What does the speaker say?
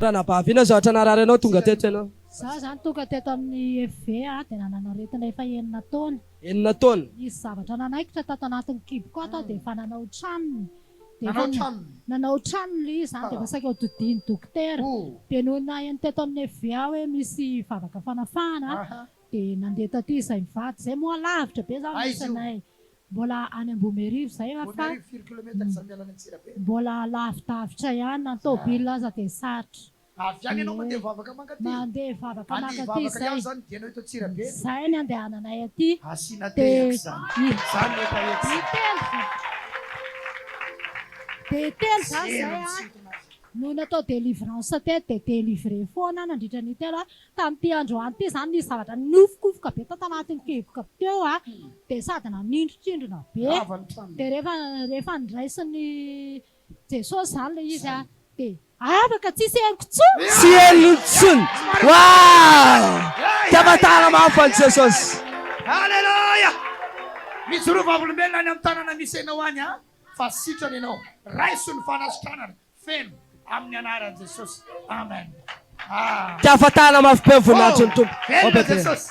Ranabavy, inona zavatra narary anao tonga teto ianao? Izaho izany tonga teto amin'ny FV aho dia nanana aretina efa enina taona. Enina taona? Nisy zavatra nanaikitra tato anatin'ny kiboko ato aho dia efa nanao tranony. Nanao tranony. Nanao tranony ilay izy izany dia efa saika ho todian'ny dokotera. Dia nony naheno teto amin'ny FVA hoe misy vavaka fanafahana dia nandeha taty izahay mivady. Izay moa lavitra be izany misy anay. Mbola any Ambohimerivo izay aho fa mbola lavidavitra ihany na ny tôbily aza dia sarotra. Avy any ianao mandeha vavaka mankaty? Mandeha vavaka mankaty izay. Andeha hivavaka ihany izany ny dianao eto Antsirabe. Izay ny andehananay aty. Asiana tehaka izany. Izany no efa etsy. Dia telo izay. Dia telo izany izay no natao délivrance teto, dia délivré foana aho nandritra ny telo. Tamin'ity androany ity izany nisy zavatra ninofokofoka be tato anatin'ny kiboko teo, dia sady nanintrotrindrona be. Dia rehefa, rehefa niraisin'ny Jesosy zany le izy a de afaka tsisy heloka tsony. Tsy heloka tsony waah dia mataha mafy an'i Jesosy. Aleloia! Mijoroa vavolombelona any amin'ny tanana misy anao any an! Fa sitrana ianao. Raiso ny fanasitranana feno amin'ny anaran'i Jesosy. Amen. Ah. Dia afatahana mafy be ny voninahitrin'ny Tompo. Velona Jesosy.